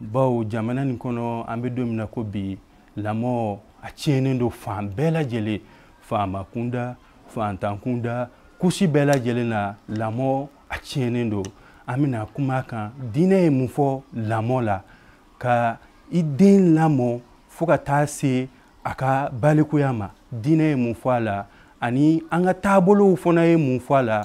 bawo jamana nin kɔnɔ an bɛ don min na ko bi lamɔ a tiɲɛnen don fan bɛɛ lajɛlen faama kunda faantan kunda couche bɛɛ lajɛlen na lamɔ a tiɲɛnen don an bɛna kuma a kan diinɛ ye mun fɔ lamɔ la ka i den lamɔ fo ka taa se a ka balikuya ma diinɛ ye mun fɔ a la ani an ka taabolow fana ye mun fɔ a la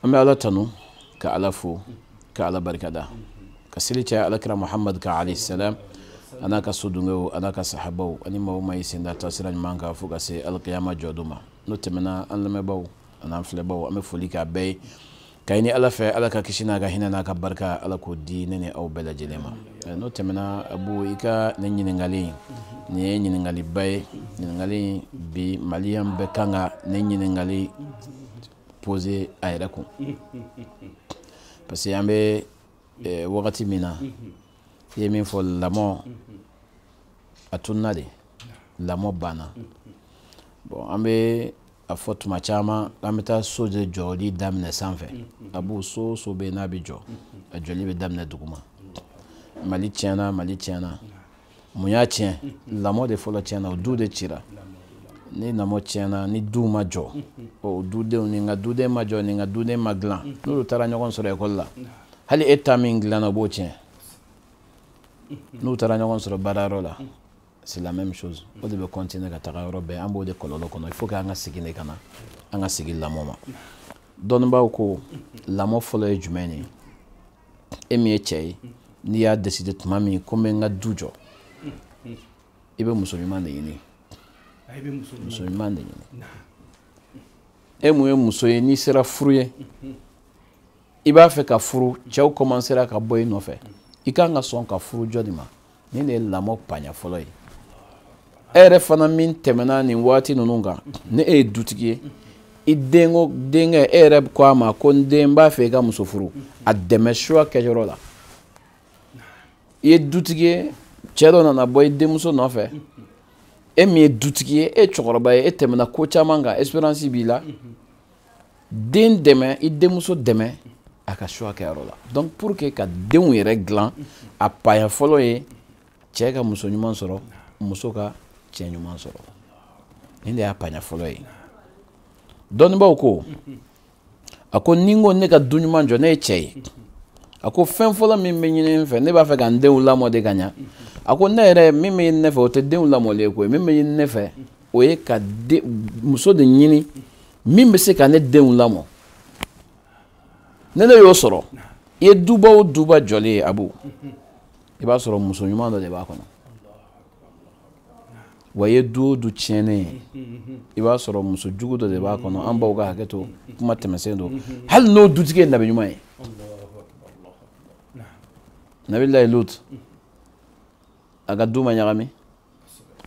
an bɛ ala tanu ka ala fo ka ala barikada ka seli caya ala kira muhamadu kan alayhi salam a n'a ka sodenw a n'a ka sahabaw ani maa o maa y'i sen da taasira ɲuman kan fo ka se alikiyama jɔdon ma n'o tɛmɛna an lamɛnbaaw an'an filɛbaaw an bɛ foli k'aw bɛɛ ye ka ɲini ala fɛ ala ka kisi n'a ka hinɛ n'a ka barika ala k'o di ne ni aw bɛɛ lajɛlen ma n'o tɛmɛna abu i ka nin ɲininkali in nin ye ɲininkaliba ye ɲininkali in bi maliyan bɛɛ kan ka nin ɲininkali poser a yɛrɛ kun parce que an bɛ eh, wagati min na i ye min fɔ lamɔ a tununa de lamɔ banna bon an bɛ a fɔ tuma caman an bɛ taa so de jɔli daminɛ sanfɛ abu so o so bɛ yen n'a bɛ jɔ a jɔli bɛ daminɛ duguma mali tiɲɛna mali tiɲɛna mun y'a tiɲɛ lamɔ de fɔlɔ tiɲɛna o du de cira ni lamɔ tiɲɛna ni du ma jɔ o dudenw ni n ka duden ma jɔ ni n ka duden ma dilan n'olu taara ɲɔgɔn sɔrɔ ekɔli la hali e ta min dilanna o b'o tiɲɛ n'u taara ɲɔgɔn sɔrɔ baarayɔrɔ la c'est la même chose o de bɛ continuer ka taga yɔrɔ bɛɛ an b'o de kɔlɔlɔ kɔnɔ il faut que an ka segin de ka na an ka segin lamɔ ma dɔnnibaaw ko lamɔ fɔlɔ ye jumɛn ye e min ye cɛ ye n'i y'a décider tuma min ko n bɛ n ka du jɔ i bɛ muso ɲuman de ɲini muso ɲuman de ɲini e min ye muso ye n'i sera furu ye i b'a fɛ ka furu cɛw kɔmansera ka bɔ i nɔfɛ i kan ka sɔn ka furu jɔn de ma nin de ye lamɔ paɲa fɔlɔ ye e yɛrɛ fana min tɛmɛna nin waati ninnu kan ni e ye dutigi ye i denko denkɛ e yɛrɛ ko a ma ko n den n b'a fɛ i ka muso furu a dɛmɛ choix kɛyɔrɔ la i ye dutigi ye cɛ dɔ nana bɔ i denmuso nɔfɛ e min ye dutigi ye e cɛkɔrɔba ye e tɛmɛna ko caman kan expérience b'i la den dɛmɛ i denmuso dɛmɛ a ka choix kɛyɔrɔ la donc pour que ka denw yɛrɛ dilan a paya fɔlɔ ye cɛ ka muso ɲuman sɔrɔ muso ka cɛ ɲuman sɔrɔ nin de y'a paya fɔlɔ ye dɔnnibaaw ko a ko ni n ko ne ka du ɲuman jɔ ne ye cɛ ye a ko fɛn fɔlɔ min bɛ ɲini n fɛ ne b'a fɛ ka n denw lamɔ de ka ɲa a ko ne yɛrɛ min bɛ ɲini ne fɛ o tɛ denw lamɔli ye koyi min bɛ ɲini ne fɛ o ye ka muso de ɲini min bɛ se ka ne denw lamɔ ne ne y'o sɔrɔ i ye duba o duba jɔlen ye abu i b'a sɔrɔ muso ɲuman dɔ de b'a kɔnɔ wa i ye du o du tiɲɛnen ye i b'a sɔrɔ muso jugu dɔ de b'a kɔnɔ an baw ka hakɛ to kuma tɛmɛsen don hali n'o dutigi ye nabi ɲuman ye nabilayi lutu a ka du ma ɲagami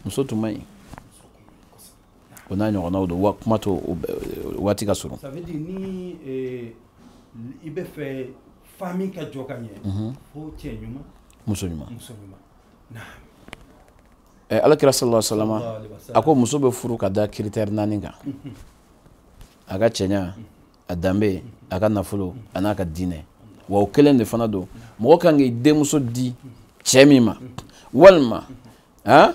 muso tun man ɲi o n'a ɲɔgɔnnaw don wa kuma to waati ka surun ni eh, i b'a fɛ famille ka jɔ ka ɲɛ mhm. fo cɛ ɲuman muso ɲuman muso ɲuman eh, ala kira sallallahu alaihi wasallam a ko muso bɛ furu ka da critère naani kan mhm. a ka cɛɲa mhm. a danbe a ka nafolo a n'a ka diinɛ wa o kelen de fana don mɔgɔ kan k'i denmuso di cɛ min ma walima han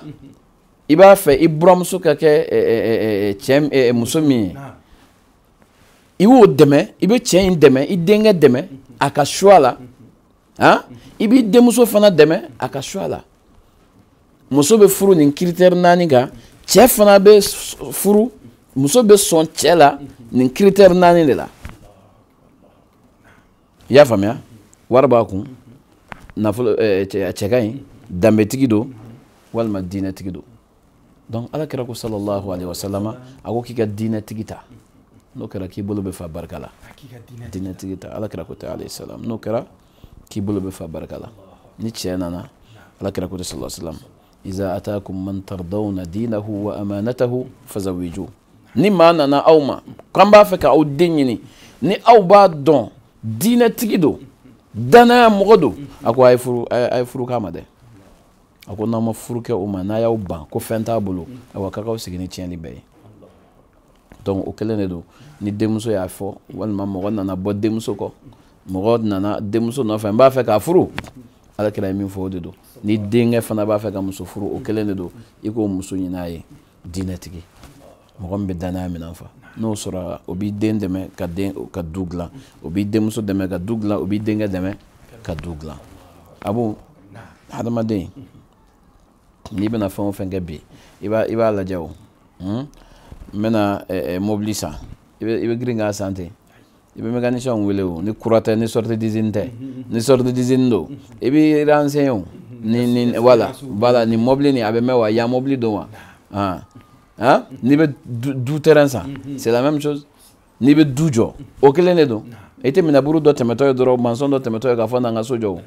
i b'a fɛ i buramuso ka kɛ muso min ye i b'o dɛmɛ i bɛ cɛ in dɛmɛ i denkɛ dɛmɛ a ka choix la han i b'i denmuso fana dɛmɛ a ka choix la muso bɛ furu nin critère naani kan cɛ fana bɛ furu muso bɛ sɔn cɛ la nin critère naani de la i y'a faamuya wari b'a kun nafolo cɛ ka ɲi danbetigi don walima diinɛtigi don donc ala kira ko sallallahu alaihi wasallam a ko k'i ka diinɛtigi ta n'o kɛra k'i bolo bɛ fa barika la diinɛtigi ta ala kira ko ten alayhi salam n'o kɛra k'i bolo bɛ fa barika la ni cɛ nana ala kira ko ten sallallahu salam iza atakum man tardawna dinahu wa amanatahu fazawiju ni maa nana aw ma k'an b'a fɛ ka aw den ɲini ni aw b'a dɔn diinɛtigi don danaya mɔgɔ don a ko a ye furu k'a ma dɛ a ko n'aw ma furu kɛ o ma n'a y'aw ban ko fɛn t'a bolo awa kan k'aw sigi ni tiɲɛli bɛɛ ye donc o kelen de don ni denmuso y'a fɔ walima mɔgɔ nana bɔ denmuso kɔ mɔgɔ nana denmuso nɔfɛ n b'a fɛ k'a furu ala kira ye min fɔ o de don ni denkɛ fana b'a fɛ ka muso furu o kelen de don i k'o muso ɲin'a ye diinɛtigi mɔgɔ min bɛ danaya minɛn fa n'o sɔrɔ o b'i den dɛmɛ ka den ka du dilan o b'i denmuso dɛmɛ ka du dilan o b'i denkɛ dɛmɛ ka du dilan abu hadamaden n'i bɛna fɛn o fɛn kɛ bi i b'a i b'a lajɛ o n bɛna mobili san i bɛ girin k'a san ten i bɛ mécanicien wele o ni kura tɛ ni sortie d'usine tɛ ni sortie d'usine don i b'i renseigner o ni ni voilà voilà ni mobili nin a bɛ mɛn wa yan mobili don wa han han n'i bɛ du terrain san c'est la même chose n'i bɛ du jɔ o kelen de don i tɛ manœuvre dɔ tɛmɛtɔ ye dɔrɔn maçon dɔ tɛmɛtɔ ye k'a fɔ na n ka so jɔ o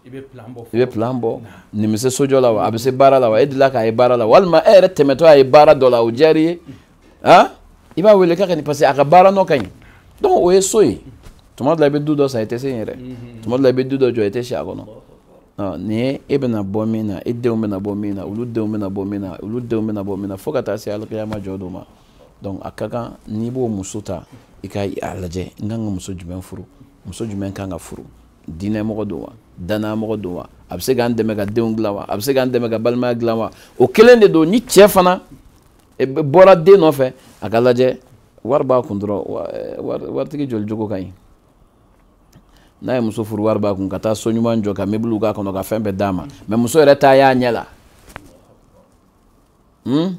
i bɛ plan bɔ i bɛ plan bɔ nin bɛ se sojɔ la wa a bɛ se baara la wa e delila k'a ye baara la walima e yɛrɛ tɛmɛtɔ a ye baara dɔ la o diyara i ye han i b'a wele k'a ka nin parce que a ka baara nɔ ka ɲi donc o ye so ye tuma dɔ la i bɛ du dɔ san i tɛ se yen yɛrɛ tuma dɔ la i bɛ du dɔ jɔ i tɛ si a kɔnɔ nin ye e bɛna bɔ min na e denw bɛna bɔ min na olu denw bɛna bɔ min na olu denw bɛna bɔ min na fo ka taa se alikiyama jɔ don ma donc a ka kan n'i b'o muso ta i ka a lajɛ n kan ka muso jumɛn furu muso jumɛn kan ka furu diinɛ mɔgɔ don wa danaya mɔgɔ don wa a bɛ se k'an dɛmɛ ka denw dilan wa a bɛ se k'an dɛmɛ ka balimaya dilan wa o kelen de don ni cɛ fana bɔra den nɔfɛ a ka lajɛ wari b'a kun dɔrɔn e, waritigi joli jogo ka ɲi n'a ye muso furu wari b'a kun ka taa so ɲuman jɔ ka meubles k'a kɔnɔ ka fɛn bɛɛ d'a ma mais muso yɛrɛ ta y'a ɲɛ la hmm?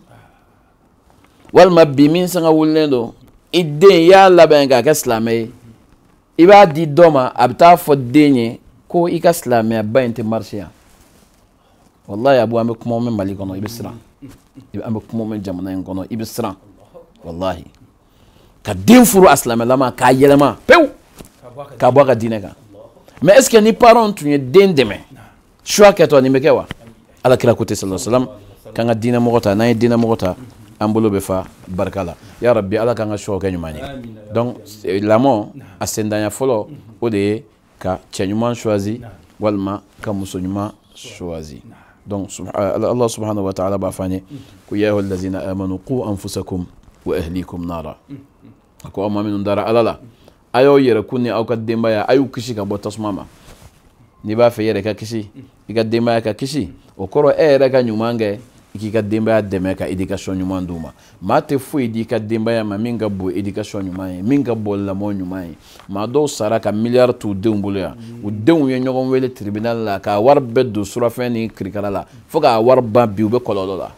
walima bi min sanga wulilen don i den i y'a labɛn k'a kɛ silamɛ ye i b'a di dɔ ma a bɛ taa fɔ den ye ko i ka silamɛyaba in tɛ marcher yan walayi abu an bɛ kuma mɛn mali kɔnɔ i bɛ siran an bɛ kuma mɛn jamana in kɔnɔ i bɛ siran walayi ka den furu a silamɛlama k'a yɛlɛma pewu ka bɔ a ka diinɛ kan mais est ce que ni parents tun ye den dɛmɛ choix kɛtɔ nin bɛ kɛ wa ala kira ko ten sala salam k'an ka diinɛ mɔgɔ ta n'an ye diinɛ mɔgɔ ta an bolo bɛ fa barika la ya rabi ala k'an ka choix kɛ ɲuman ye donc lamɔ a sendanya fɔlɔ o de ye ka cɛ ɲuman choisi walima ka muso ɲuman choisi donc Allah subhanahu wa ta'ala b'a fɔ an ye ko ya ayyuhal lazina amanu qu anfusakum wa ahlikum nara a ko aw maa minnu dara Ala la a y'aw yɛrɛkun ni aw ka denbaya a y'u kisi ka bɔ tasuma ma n'i b'a fɛ i yɛrɛ ka kisi i ka denbaya ka kisi o kɔrɔ e yɛrɛ ka ɲuman kɛ i k'i ka denbaya dɛmɛ ka éducation ɲuman d'u ma maa tɛ foyi di i ka denbaya ma min ka bon éducation ɲuman ye min ka bon lamɔ ɲuman ye maa dɔw sara ka miliyari t'u denw bolo yan u denw ye ɲɔgɔn wele tribunal la k'a wari bɛɛ don surafɛn ni kirikara la fo k'a wari ban bi u bɛ kɔlɔlɔ la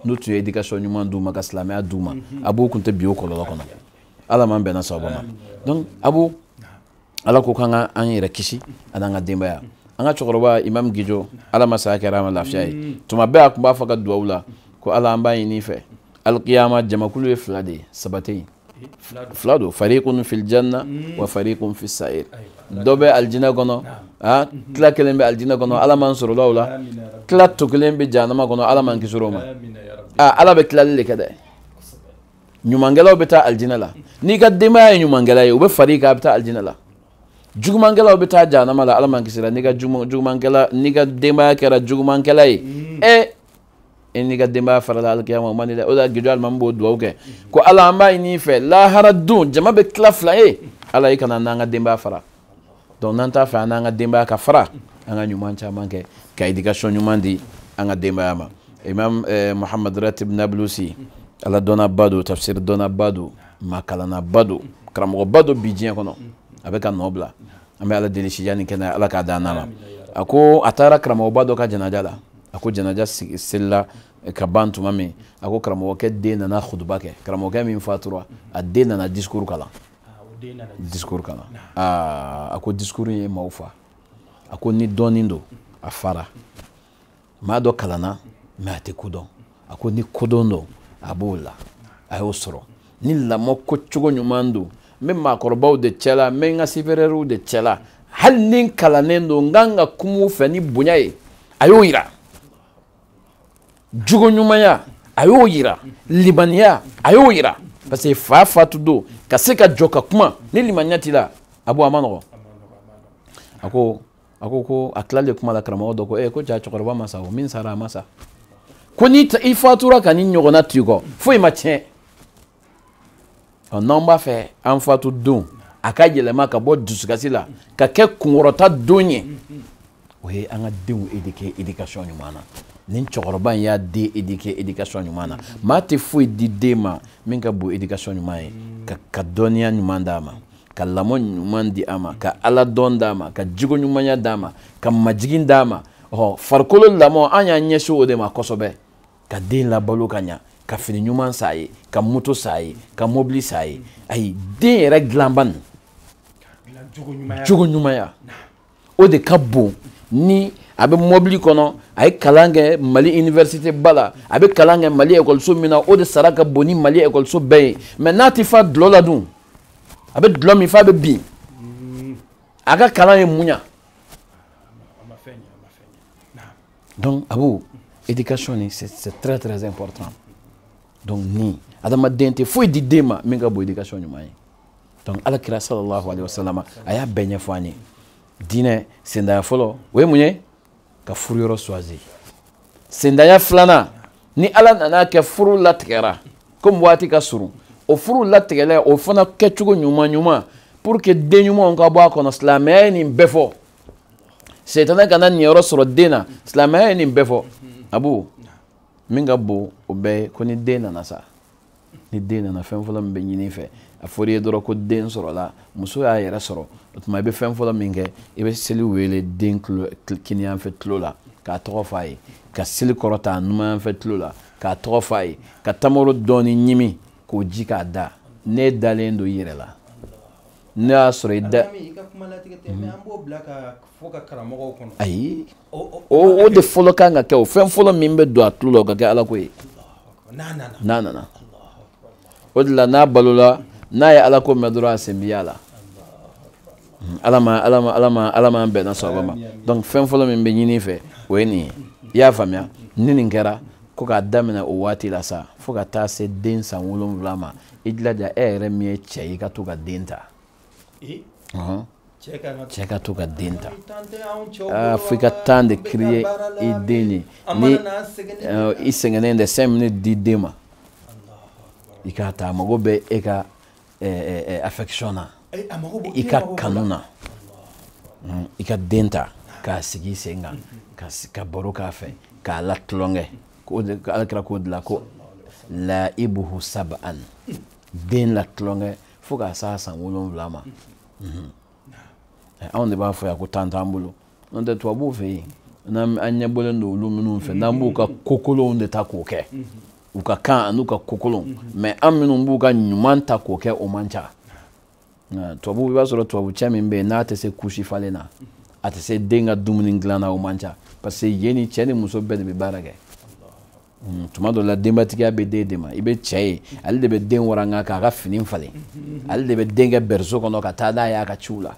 n'u tun ye éducation ɲuman d'u ma ka silamɛya d'u ma abu u kun tɛ bin o kɔlɔlɔ kɔnɔ ala m'an bɛnna sababa ma donc abu ala ko k'an ka an yɛrɛ kisi a n'an ka denbaya an ka cɛkɔrɔba imam gijo ala ma saya kɛra a ma lafiya ye mm. tuma bɛɛ a tun b'a fɔ a ka duwawu la ko ala an b'a ɲini i fɛ alikiyama jamakulu ye fila de ye saba tɛ yen fila don farikun fil janna mm. wa farikun fis sa'ir dɔ bɛ alijinɛ kɔnɔ ah, mm-hmm. tila kelen bɛ alijinɛ kɔnɔ ala m'an sɔrɔla o la tila to kelen bɛ jahanama kɔnɔ ala m'an kisi o ma ah, ala bɛ tilali de kɛ dɛ ɲumankɛlaw bɛ taa alijinɛ la n'i ka denbaya ye ɲumankɛla ye u bɛ far'i kan a bɛ taa alijinɛ la jugumankɛlaw bɛ taa jahanama la ala m'an kisila n'i ka denbaya kɛra jugumankɛla ye ɛ e n'i ka denbaya farala alikiyama o man di dɛ o de la gijo alimami b'o duwawu kɛ ko ala an b'a ɲini i fɛ lahara don jama bɛ tila fila ye ala i kana an n'an ka denbaya fara donc n'an t'a fɛ an n'an ka denbaya ka fara an ka ɲuman caman kɛ ka éducation ɲuman di an ka denbaya ma imam eh, muhammad ratib nablusi ala dɔnnaba don tafsir dɔnnaba don maa kalannaba don karamɔgɔba don bi diɲɛ kɔnɔ a bɛ ka nɔ bila an bɛ ala deli sijan ni kɛnɛya ala k'a d'an n'a ma a ko a taara karamɔgɔba dɔ ka janaja la a ko janaja selila ka ban tuma min a ko karamɔgɔkɛ den nana hutuba kɛ karamɔgɔkɛ min fatura a den nana discours kalan discours kalan aa a ko discours ye maaw fa a ko ni dɔnni don a fara maa dɔ kalanna mais a tɛ ko dɔn a ko ni kodɔn don a b'o la a y'o sɔrɔ ni lamɔ ko cogo ɲuman don n bɛ maakɔrɔbaw de cɛla n bɛ n ka supérieurs de cɛla hali ni n kalannen don n kan ka kum'u fɛ ni bonya ye a y'o yira jogo ɲumanya a y'o yira limaniya a y'o yira parce que fa fatu don ka se ka jɔ ka kuma ni limaniya t'i la abu a man nɔgɔ a ko a ko ko a tilalen kuma la karamɔgɔ dɔ ko ee eh, ko jaa cɛkɔrɔba ma sa o min sara a ma sa ko ni i fatura ka nin ɲɔgɔnna t'i kɔ foyi ma tiɲɛ ɔ n'an b'a fɛ an fatu don a ka yɛlɛma ka bɔ dusukasi la ka kɛ kunkɔrɔta don ye o ye an ka denw éduquer éducation ɲuman na nin cɛkɔrɔba in y'a den éduquer éducation ɲuman na maa tɛ foyi di den ma min ka bon éducation ɲuman ye ka ka dɔnniya ɲuman d'a ma ka lamɔ ɲuman di a ma ka ala dɔn d'a ma ka jogo ɲumanya d'a ma ka majigin d'a ma ɔ farikolo lamɔ an y'an ɲɛsin o de ma kosɛbɛ ka den labalo ka ɲa ka fini ɲuman san a ye ka moto san a ye ka mobili san a ye ayi den yɛrɛ dilanba nin jogo ɲumanya o de ka bon ni a bɛ mobili kɔnɔ a ye kalan kɛ mali université ba la a bɛ kalan kɛ mali ekɔliso min na o de sara ka bon ni mali ekɔliso bɛɛ ye mais n'a tɛ fa dulɔ la dun a bɛ dulɔ min f'a bɛ bin a ka kalan ye mun ɲa donc abu éducation nin c'est très très important donc ni adamaden tɛ foyi di den ma min ka bon éducation ɲuman ye donc ala kira sallallahu alaihi wasallam a y'a bɛɛ ɲɛfɔ an ye diinɛ sendaya fɔlɔ o ye mun ye ka furu yɔrɔ choisir sendaya filanan ni ala nana kɛ furu latigɛra komi waati ka surun o furu latigɛla o fana kɛcogo ɲuman ɲuman pour que den ɲumanw ka bɔ a kɔnɔ silamɛya ye nin bɛɛ fɔ setana kana niyɔrɔ sɔrɔ den na silamɛya ye nin bɛɛ fɔ abu min ka bon o bɛɛ ye ko ni den nana sa ni den nana fɛn fɔlɔ min bɛ ɲini i fɛ a fɔra i ye dɔrɔn ko den sɔrɔla muso y'a yɛrɛ sɔrɔ o tuma i bɛ fɛn fɔlɔ min kɛ i bɛ seli wele den kiniyanfɛ tulo la k'a tɔgɔ fɔ a ye ka seli kɔrɔta numanyanfɛ tulo la k'a tɔgɔ fɔ a ye ka tamaro dɔɔni ɲimi k'o ji k'a da n'i dalen don i yɛrɛ la ne y'a sɔrɔ i da ayi o de fɔlɔ kan ka kɛ o fɛn fɔlɔ min bɛ don a tulo la o ka kɛ ala ko ye n'a nana o de la n'a balola n'a ye ala ko mɛn dɔrɔn a sen bi y'a la ala ma ala ma ala ma ala ma bɛnna sɔrɔ ma donc fɛn fɔlɔ min bɛ ɲini fɛ o ye nin ye i y'a faamuya ni nin kɛra ko k'a daminɛ o waati la sa fo ka taa se den san wolonwula ma i jilaja e yɛrɛ min ye cɛ ye i ka to ka den ta cɛ ka to ka den ta fo i ka temps de créer i den ye ni i sɛgɛnnen de cinq minutes di den ma i k'a ta a mago bɛ e ka affection na i ka kanu na i ka den ta k'a sigi i sen kan ka baro k'a fɛ k'a la tulonkɛ ko ala kira k'o de la ko laibuhu sab'an den la tulonkɛ fo ka s'a san wolonwula ma mhm. eh, anw de b'a fɔ yan ko temps t'an bolo n'o tɛ tubabuw fɛ yen n'an ɲɛbɔlen don olu minnu fɛ n'an b'u ka kokolonw de ta k'o kɛ mhm. u ka kan an'u ka kokolonw mais mhm. an minnu b'u ka ɲuman ta k'o kɛ o man ca tubabu i b'a sɔrɔ tubabu cɛ min bɛ yen n'a tɛ se couche falen na a tɛ se den ka dumuni dilan na o man ca parce que yen ni cɛ ni muso bɛɛ de bɛ baara kɛ hmm, tuma dɔ la denbatigiya bɛ den de ma i bɛ cɛ ye ale de bɛ den waranga k'a ka fini falen ale de bɛ den kɛ berceau kɔnɔ ka taa n'a ye a ka ciw la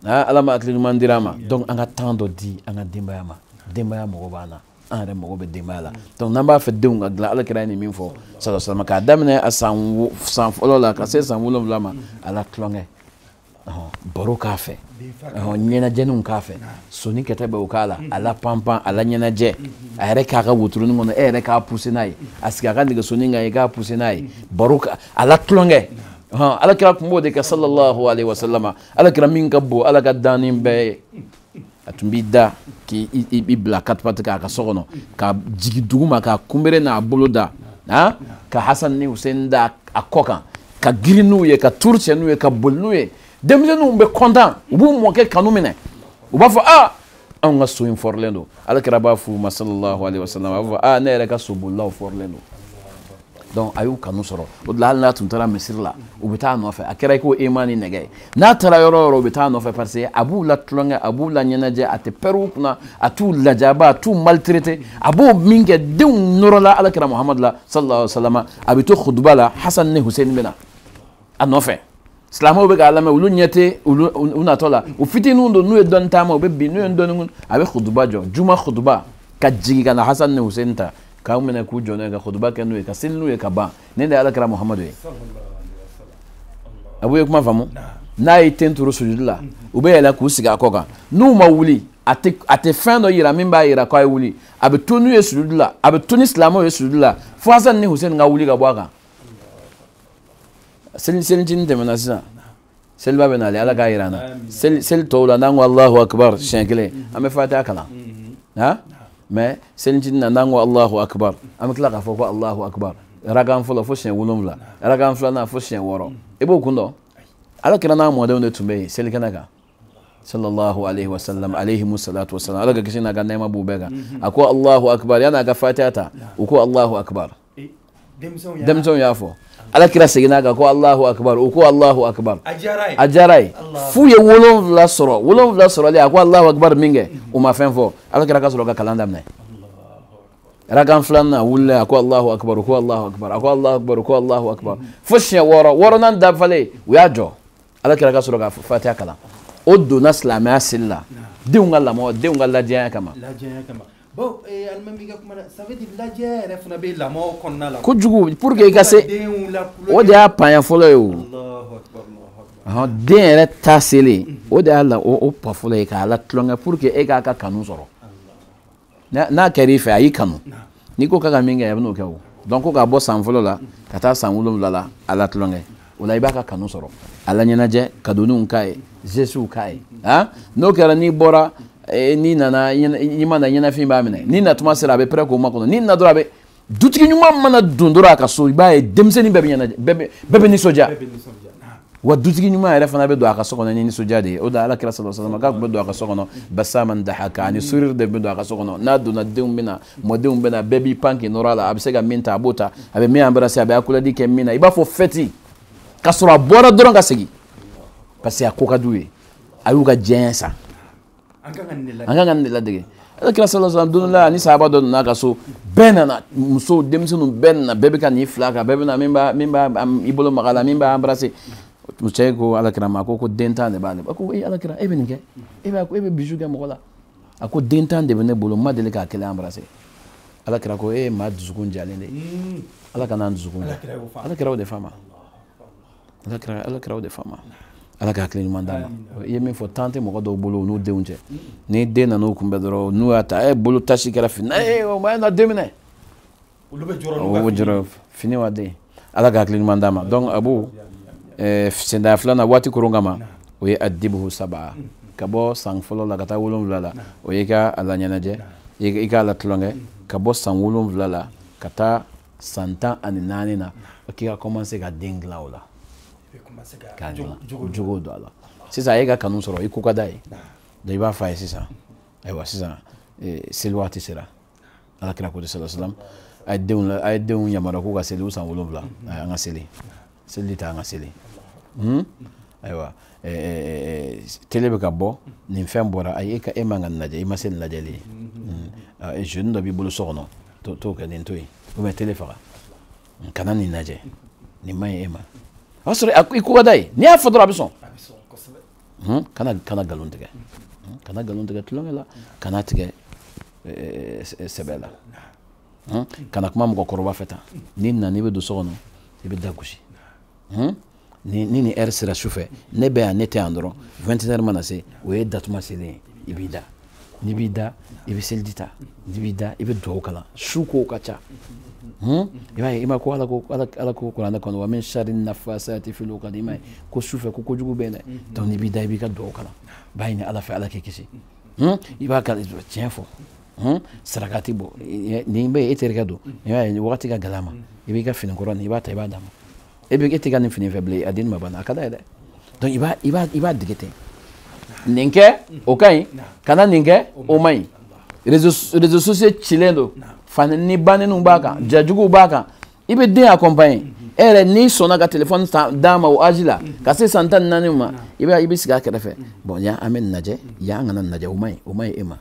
ala ma hakili ɲuman dira an ma donc an ka temps dɔ di an ka denbaya ma denbaya mago b'an na an yɛrɛ mago bɛ denbaya la donc n'an b'a fɛ denw ka dilan ala kira ye nin min fɔ sallallahu alaihi wasalama k'a daminɛ a san san fɔlɔ la ka se san wolonwula ma a la tulonkɛ baro k'a fɛ ɲɛnajɛninw k'a fɛ soni kɛtɛ bɛ o k'a la a la panpan a la ɲɛnajɛ a yɛrɛ k'a ka wotoroni kɔnɔ e yɛrɛ k'a pousser n'a ye a sigi a ka nɛgɛsoni kan i k'a pousser n'a ye baro a la tulonkɛ ala kira tun b'o de kɛ sallallahu alaihi wasalama ala kira min ka bon ala ka danni bɛɛ ye a tun b'i da k'i bila quatre pattes k'a ka so kɔnɔ ka jigi duguma k'a kunbere n'a bolo da ka hasan ni husein da a kɔ kan ka girin n'u ye ka tour kɛ n'u ye ka boli n'u ye denmisɛnninw bɛ content u b'u mɔkɛ kanu minɛ u b'a fɔ a anw ka so in fɔrilen don alakira b'a f'u ma salallahu alaihi wasallam a b'a fɔ a ne yɛrɛ ka sobolilaw fɔrilen don donc a y'u kanu sɔrɔ o de la hali n'a tun taara misiri la u bɛ taa a nɔfɛ a kɛra i ko aimant ni nɛgɛ ye n'a taara yɔrɔ o yɔrɔ u bɛ taa a nɔfɛ parce que a b'u la tulonkɛ a b'u la ɲɛnajɛ a tɛ pɛrɛn u kunna a t'u lajaba a t'u maltraité a b'o min kɛ denw nɔrɔla alakira muhamadu la sallallahu alaihi wa sallam a bɛ to khutuba la hasan ni husein bɛ na a nɔfɛ silamɛw bɛ k'a lamɛn olu ɲɛ tɛ olu u natɔ la u fitininw don n'u ye dɔɔnin taama u bɛ bin n'u ye dɔɔnin kun a bɛ kutuba jɔ juma kutuba ka jigin ka na hasan ni hussein ta k'u minɛ k'u jɔ n'u ye ka kutuba kɛ n'u ye ka seli n'u ye ka ban nin de ye ala kira muhamadu ye a b'u ye kuma faamu n'a y'a ten turu sujudi la u bɛ yɛlɛn k'u sigi a kɔ kan n'u ma wuli a tɛ a tɛ fɛn dɔ yira min b'a yira k'a ye wuli a bɛ to n'u ye sujudi la a bɛ to ni silamɛw ye sujudi la fo hasan ni hussein ka wuli ka bɔ a kan seli selicinin tɛmɛna sisan seliba bɛ nale ala k'a yira an na seli tɔw la n'an ko alahu akibar siɲɛ kelen an bɛ fatiya kalan ha mais selicinin na n'an ko alahu akibar an bɛ tila k'a fɔ ko alahu akibar arakan fɔlɔ fo siɲɛ wolonwula arakan filanan fo siɲɛ wɔɔrɔ i b'o kun dɔn ala kira n'a mɔdenw de tun bɛ yen selikɛnɛ kan sallallahu alaihi wasallam alaihimu salatu wasallam ala ka kisi n'a ka nɛɛma b'u bɛɛ kan a ko alahu akibar yan'a ka fatiya ta u ko alahu akibar denmisɛnw y'a fɔ ala kira seginn'a kan ko alahu akibar u ko alahu akibar a diyar'a ye f'u ye wolonwula sɔrɔ wolonwula sɔrɔlen a ko alahu akibar min kɛ u ma fɛn fɔ ala kira ka sɔrɔ ka kalan daminɛ arakan filanan wulila a ko alahu akibar u ko alahu akibar a ko alahu akibar u ko alahu akibar fo siɲɛ wɔɔrɔ wɔɔrɔnan dafalen u y'a jɔ ala kira ka sɔrɔ ka fatiya kalan o donna silamɛya seli la denw ka lamɔ denw ka ladiyanya kama bon eh, alimami ka kuma na ça veut dire lajɛ yɛrɛ fana bɛ lamɔ kɔnɔna la kojugu pour que i ka se o de y'a panya fɔlɔ ye o den yɛrɛ ta selen o de y'a la o pas fɔlɔ ye k'a latulonkɛ pour que e k'a ka kanu sɔrɔ n'a kɛra i fɛ a y'i kanu n'i ko k'a ka min kɛ a bɛn'o kɛ o donc ko k'a bɔ san fɔlɔ la ka taa san wolonwula la a latulonkɛ o la i b'a ka kanu sɔrɔ a laɲɛnajɛ kadoninw k'a ye gestew k'a ye a n'o kɛra n'i bɔra eh, n'i nana i ma na ɲɛnafin b'a minɛ n'i natuma sera a bɛ pɛrɛ k'o makɔnɔ n'i na dɔrɔn a bɛ dutigi ɲuman mana don dɔrɔn a ka so i b'a ye denmisɛnnin bɛɛ bɛ ɲɛnajɛ bɛɛ bɛ nisɔndiya wa dutigi ɲuman yɛrɛ fana bɛ don a ka so kɔnɔ ni nisɔndiya de ye o de ala kira sallallahu alaihi wasallam k'a tun bɛ don a ka so kɔnɔ basaman dahaka ani sourire de bɛ don a ka so kɔnɔ n'a donna denw bɛ na mɔdenw bɛ na bɛɛ b'i pan k'i nɔrɔ a la a bɛ se ka min ta a b'o ta a bɛ min embrasser a bɛ accolade kɛ min na i b'a fɔ fête ka sɔrɔ a bɔra dɔrɔn ka segin parce que a ko ka d'u ye a y'u ka diyanye san an kan ka nin de ladege ala kira sallallahu alaihi wasallam don dɔ la ni sahaba dɔ nana a ka so bɛɛ nana musow denmisɛnninw bɛɛ nana bɛɛ bɛ ka n'i fil'a kan bɛɛ bɛ na min b'a min b'a i bolo mag'a la min b'a embrasser cɛ ko ala kira ma ko ko den tan de b'ale ba ko e ala kira e bɛ nin kɛ e b'a ko e bɛ bisou kɛ mɔgɔ la a ko den tan de bɛ ne bolo n ma deli k'a kelen embrasser ala kira ko e ye maa dusukun jalen de ye ala kan'an dusukun ja ala kira o de f'a ma ala kira ala kira o de f'a ma ala ka hakili ɲuman d'a ma i ye min fɔ tan tɛ mɔgɔ dɔw bolo u n'u denw cɛ ni den nan'u kunbɛn dɔrɔn n'u y'a ta e bolo tache kɛra fini na ee o ma na den minɛ olu bɛ jɔrɔ n'u ka fini jɔrɔ fini wa den ala ka hakili ɲuman d'a ma donc abu eh, sendaya filanan waati koron kama o ye adibuhu saba ka bɔ san fɔlɔ la ka taa wolonwula la o ye ka a laɲɛnajɛ i k'a la tulonkɛ ka bɔ san wolonwula la ka taa san tan ani naani na k'i ka commencer ka den dilan o la k'a dilan jogo don a la sisan a ye ka kanu sɔrɔ i ko ka d'a ye donc i b'a fɔ a ye sisan ayiwa sisan eh, seli waati sera ala kira ko sallallahu alaihi wasallam a ye denw a ye denw yamaruya k'u ka seli u san wolonwula mhm. an ka seli seliji ta an ka seli hmm? ayiwa télé bɛ ka bɔ nin fɛn bɔra ayi e ka e man ka nin lajɛ i ma se nin lajɛli ye mhm. hmm. jeunin dɔ b'i bolo so kɔnɔ t'o kɛ nin to yen ou bien télé faga hmm, kana nin lajɛ nin man ɲi e ma o y'a sɔrɔ i ko ka d'a ye n'i y'a fɔ dɔrɔn a bɛ sɔn Hmm? kana kana nkalon tigɛ hmm? kana nkalon tigɛ tulonkɛ la kana tigɛ eh, eh, sɛbɛ la hmm? kana kuma mɔgɔkɔrɔba fɛ tan n'i nana n'i bɛ don so kɔnɔ i bɛ da gosi ni ni heure sera su fɛ ne bɛ yan ne tɛ yan dɔrɔn 21 heures mana se o ye datuma selen ye i b'i da n'i b'i da i bɛ seliji ta n'i b'i da i bɛ dugawu kalan su kow ka ca i b'a ye i ma ko ala ko ala ko kuranɛ kɔnɔ wa min sari nafasati fil uqad i m'a ye ko su fɛ ko kojugu bɛ yen dɛ donc n'i b'i da i b'i ka dugawu kalan b'a ɲini ala fɛ ala k'i kisi i b'a kalan tiɲɛ fɔ sarakati bɔ nin bɛ e terikɛ don i b'a ye wagati ka gɛlɛn a ma i b'i ka fini kɔrɔ nin i b'a ta i b'a d'a ma e bɛ e tɛ ka nin fini fɛ bilen a den ma banna a ka d'a ye dɛ donc i b'a i b'a i b'a dege ten nin kɛ o ka ɲi kana nin kɛ o man ɲi réseaux réseaux sociaux cilen don fani ni baneniw b'a kan ja juguw b'a kan i bɛ den accompagner e yɛrɛ n'i sɔnna ka téléphone d'a ma o âge la ka se san tan ni naani ma i b'a i bɛ sigi a kɛrɛfɛ bon yan an bɛ nin lajɛ yan an kana nin lajɛ o man ɲi o man ɲi e ma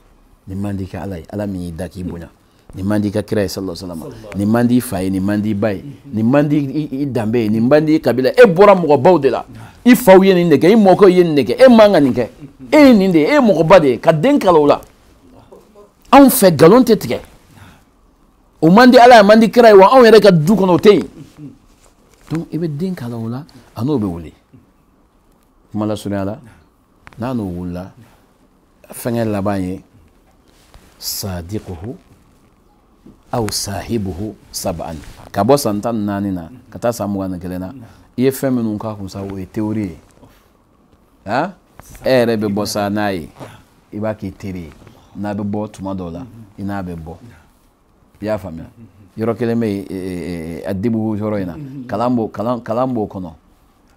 nin man di i ka ala ye ala min y'i da k'i bonya nin man di i ka kira ye sallallahu alaihi wasallam nin man di i fa ye nin man di i ba ye nin man di i danbe ye nin man di i kabila e bɔra mɔgɔbaw de la i faw ye nin de kɛ i mɔkɛw ye nin de kɛ e man ka nin kɛ e ye nin de ye e ye mɔgɔba de ye ka den kalan o la anw fɛ nkalon tɛ tigɛ o man di ala ye a man di kira ye wa anw yɛrɛ ka du kɔnɔ o tɛ yen donc i bɛ den kalan o la a n'o bɛ wuli kuma lasurunya la n'a n'o wulila fɛnkɛ laban ye sadikuhu aw sahibuhu saban ka bɔ san tan ni naani na ka taa san mugan ni kelen na i ye fɛn minnu k'a kun sa o ye théorie ye ha e yɛrɛ bɛ bɔ sa n'a ye i b'a k'i teri ye n'a bɛ bɔ tuma dɔw la i n'a bɛ bɔ i y'a faamuya yɔrɔ kelen bɛ yen e, e, e, adibu yɔrɔ in na kalan b'o kalan kalan b'o kɔnɔ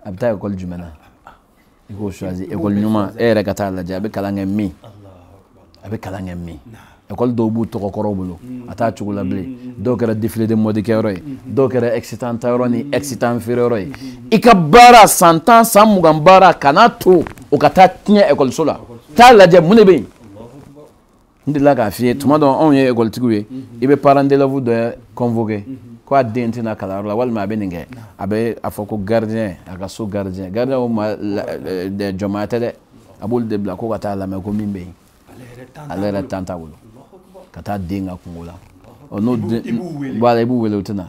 a bɛ taa ekɔli jumɛn na i k'o choisir ekɔli ɲuman e yɛrɛ ka taa lajɛ a bɛ kalan kɛ min a bɛ kalan kɛ min ekɔli dɔw b'u tɔgɔkɔrɔw bolo a t'a cogo la bilen dɔw kɛra défilé de mode kɛyɔrɔ ye dɔw kɛra excitant tayɔrɔ ni excitant feereyɔrɔ ye i ka baara san tan san mugan baara kana to o ka taa tiɲɛ ekɔliso la taa lajɛ mun de bɛ yen n delila k'a f'i ye tuma dɔ anw ye ekɔlitigiw ye i bɛ parent d'élève dɔ convoquer ko a den tɛ na kalanyɔrɔ la walima a bɛ nin kɛ a bɛ a fɔ ko gardien a ka so gardien gardien o maa jɔnmaya tɛ dɛ a b'olu de bila ko ka taa lamɛn ko min bɛ yen ale yɛrɛ temps t'a bolo ka taa den ka kunko la n'o wala i b'u wele u tɛ na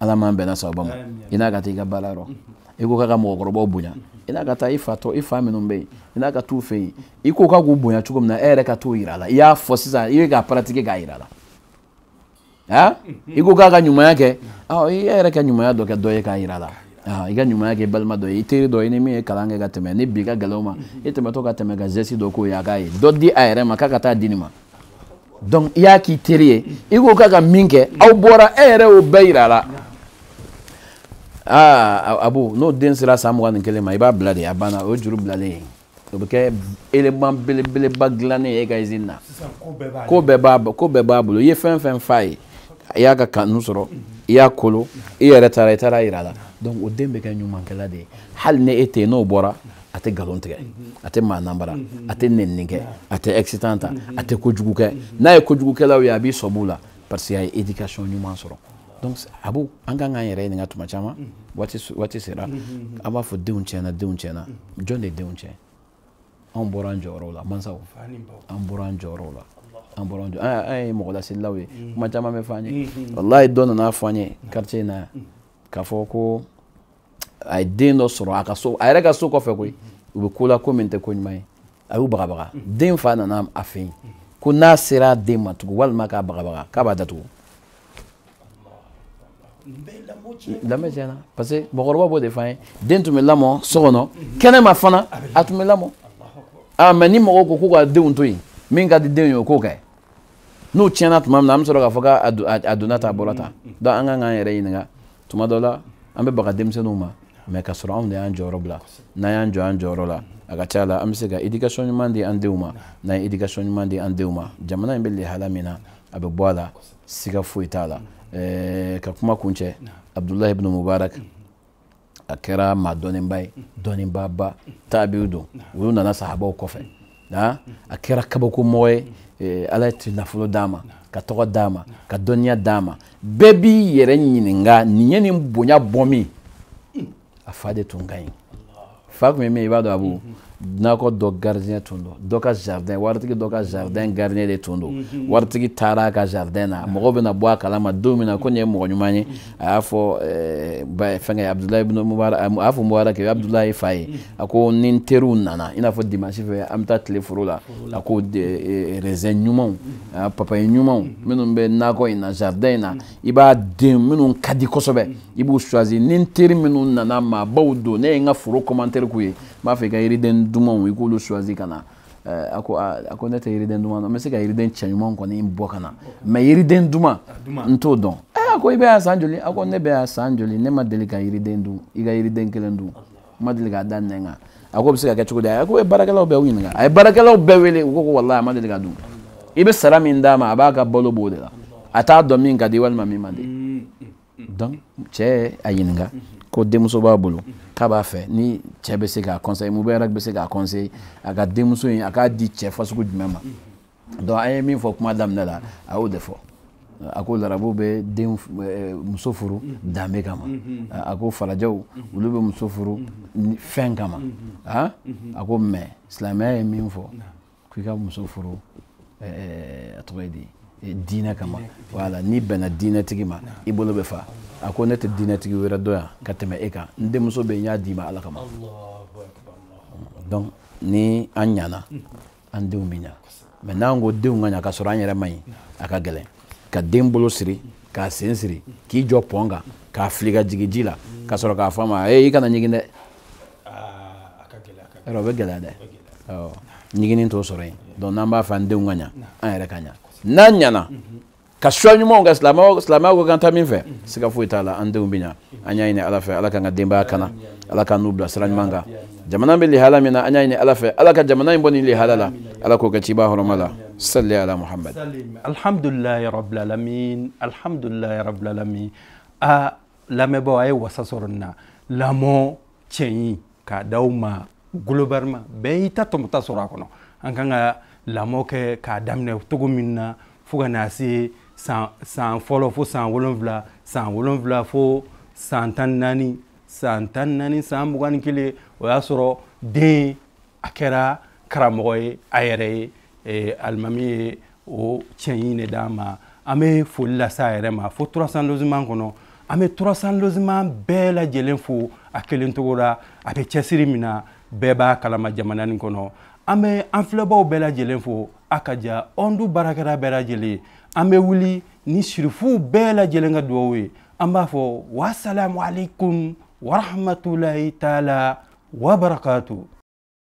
ala m'an bɛnna sababu ma i n'a ka taa i ka baara yɔrɔ i ko k'a ka mɔgɔkɔrɔbaw bonya i n'a ka taa i fa tɔ i fa minnu bɛ yen i n'a ka t'u fɛ yen i ko k'a k'u bonya cogo min na e yɛrɛ ka t'o yira a la i y'a fɔ sisan i bɛ k'a pratiquer k'a yira a la aa i ko k'a ka ɲumanya kɛ ɔ i yɛrɛ ka ɲumanya dɔ kɛ dɔ ye k'a yira a la i ka ɲumanya kɛ balima dɔ ye i teri dɔ ye ni min ye kalan kɛ ka tɛmɛ ni bi ka gɛlɛn o ma e tɛmɛtɔ ka tɛmɛ ka geste dɔ k'o ye a k'a ye dɔ di a yɛrɛ ma k'a ka taa di nin ma donc i y'a k'i teri ye i ko k'a ka min kɛ aw bɔra e yɛrɛ y'o bɛɛ yira a la aa abu n'o den sera san mugan ni kelen ma i b'a bila de a banna o ye juru bilalen ye o bɛ kɛ élément belebeleba dilannen ye e ka usine na ko bɛɛ b'a ko bɛɛ b'a bolo i ye fɛn fɛn f'a ye i y'a ka kanu sɔrɔ i y'a kolo i yɛrɛ taara i taara yira a la donc o den bɛ kɛ ɲumankɛla de ye hali ni e tɛ yen n'o bɔra a tɛ nkalon tigɛ a tɛ maa nanbara a tɛ nɛnini kɛ a tɛ excitant ta a tɛ kojugu kɛ n'a ye kojugukɛlaw ye a b'i sɔmi u la parce que a ye éducation ɲuman sɔrɔ donc abu an kan k'an yɛrɛ ɲininka tuma caman waati waati sera an b'a fɔ denw tiɲɛna denw tiɲɛna jɔn de ye denw tiɲɛ anw bɔra an jɔyɔrɔw la mansaw an bɔra an jɔyɔrɔw la an bɔra an jɔ an ye mɔgɔ laselilaw ye kuma caman bɛ fɔ an ye walayi dɔ nana fɔ an ye quartier in na yan k'a fɔ ko a ye den dɔ sɔrɔ a ka so a yɛrɛ ka so kɔfɛ koyi u bɛ ko la ko min tɛ ko ɲuman ye a y'u bagabaga den fa nana a fɛ yen ko n'a sera den ma tugun walima k'a bagabaga k'a b'a datugu lamɔ tiɲɛna parce que mɔgɔkɔrɔba b'o de f'an ye den tun bɛ lamɔ so kɔnɔ kɛnɛma fana a tun bɛ lamɔ aa mais ni mɔgɔw ko k'u ka denw to yen min ka di denw ye o k'o kɛ n'u tiɲɛna tuma min na an bɛ sɔrɔ k'a fɔ k'a donna tan a bɔra tan donc an kan k'an yɛrɛ ɲininka tuma dɔ la an bɛ baga denmisɛnninw ma mais ka sɔrɔ anw de y'an jɔyɔrɔ bila n'an y'an jɔ an jɔyɔrɔ la a ka ca la an bɛ se ka éducation ɲuman di an denw ma n'an ye éducation ɲuman di an denw ma jamana in bɛ lihala min na a bɛ bɔ a la siga foyi t'a la ka kuma kuncɛ abdulahi ibn mubarak a kɛra maa dɔnnenba ye dɔnnenbaba taabiw don olu nana sahabaw kɔfɛ a kɛra kabakomɔgɔ ye eh, ala ye nafolo d'a ma ka tɔgɔ d'a ma ka dɔnniya d'a ma bɛɛ b'i yɛrɛ ɲininka nin ye nin bonya bɔ min a fa de tun ka ɲi fa tun ye min i b'a dɔn abu mhm. nakɔ dɔ gardien tun don dɔ ka jardin waritigi dɔ ka jardin mhm. gardien de tun don mhm. waritigi taara a ka jardin na mɔgɔw bɛna bɔ a kalama don min na ko nin ye mɔgɔ ɲuman ye a y'a fɔ eh, fɛnkɛ abudulayi ibn mubarak a y'a fɔ mubarak ye abudulayi fa ye a ko ni n teriw nana i n'a fɔ dimansi fɛ an bɛ taa tilen foro la a ko eh, eh, raisin ɲumanw papaye ɲumanw minnu bɛ nakɔ in na jardin in na i b'a den minnu ka di kosɛbɛ i b'u choisi ni n teri minnu nana maabaw don ne ye n ka foro commentaire k'u ye n b'a fɛ i ka yiriden dumanw i k'olu choisi ka na eh, a ko ah, a ko ne tɛ yiriden duman dɔn n bɛ se ka yiriden cɛɲuman kɔni bɔ ka na mais yiriden duman n t'o dɔn eh, a ko i bɛ yan san joli a ko ne bɛ yan san joli ne ma deli ka yiriden dun i ka yiriden kelen dun ma deli k'a da nɛn kan a ko o bɛ se ka kɛ cogo di a ko baarakɛlaw bɛɛ ɲininka a ye baarakɛlaw bɛɛ wele u ko ko walayi a ma deli k'a dun i bɛ sara min d'a ma a b'a ka balo b'o de la a t'a dɔn min ka di walima min man di donc cɛ y'a ɲininka ko denmuso b'a bolo k'a b'a fɛ ni cɛ bɛ se k'a conseiller mubarak bɛ se k'a conseiller a ka denmuso in a k'a di cɛ fasugu jumɛn ma donc an ye min fɔ kuma daminɛ la a y'o de fɔ a ko larabu bɛ den eh, muso furu danbe kama mm-hmm. a ko falajɛw mm-hmm. olu bɛ muso furu mm-hmm. fɛn kama ah? a ko mais silamɛya ye min fɔ k'i ka muso furu eh, eh, a tɔgɔ ye di diinɛ kama voilà n'i bɛnna diinɛtigi ma i bolo bɛ fa a ko ne tɛ diinɛtigi wɛrɛ dɔn yan ka tɛmɛ e kan n denmuso bɛ yen n y'a d'i ma ala kama donc ni an ɲana an denw bɛ ɲa mais n'an ko denw ka ɲa k'a sɔrɔ an yɛrɛ man ɲi a ka gɛlɛn ka den bolo siri k'a sen siri k'i jɔ pɔn kan k'a fili ka jigin ji la ka sɔrɔ k'a fɔ a ma ee i kana ɲigin dɛ yɔrɔ o bɛ gɛlɛya dɛ ɲiginin t'o sɔrɔ yen donc n'an b'a fɛ an denw ka ɲa an yɛrɛ ka ɲa n'an ɲana ka choix ɲumanw kɛ silamɛya ko k'an taa min fɛ siga foyi t'a la an denw bɛ ɲa an y'a ɲini ala fɛ ala k'an ka denbaya kana ala k'an n'u bila sira ɲuman kan jamana bɛ lihala min na an y'a ɲini ala fɛ ala ka jamana in bɔ nin lihala la ala k'o kɛ ciba hɔrɔma la sali ala muhamad alhamdulilayi rabilalamin alhamdulilayi rabilalamin a lamɛnbaaw a ye wasa sɔrɔ nin na lamɔ cɛɲi k'a da aw ma globalement bɛɛ y'i ta tɔmɔta sɔrɔ a kɔnɔ an kan ka lamɔ kɛ k'a daminɛ cogo min na fo ka na se san san fɔlɔ fo san wolonwula san wolonwula fo san tan naani san tan naani san mugan ni kelen o y'a sɔrɔ den a kɛra karamɔgɔ ye a yɛrɛ ye alimami ye o cɛɲi de d'a ma an bɛ foli lase a yɛrɛ ma fo trois cents logements kɔnɔ an bɛ trois cents logements bɛɛ lajɛlen fo a kelen tɔgɔ la a bɛ cɛsiri min na bɛɛ b'a kalama jamana nin kɔnɔ an bɛ an filɛbaw bɛɛ lajɛlen fo a ka ja ɔndu baarakɛla bɛɛ lajɛlen an bɛ wuli ni sirifuw bɛɛ lajɛlen ka dugawu ye an b'a fɔ wasalamu aleykum warahmatulahi taala wabarakatu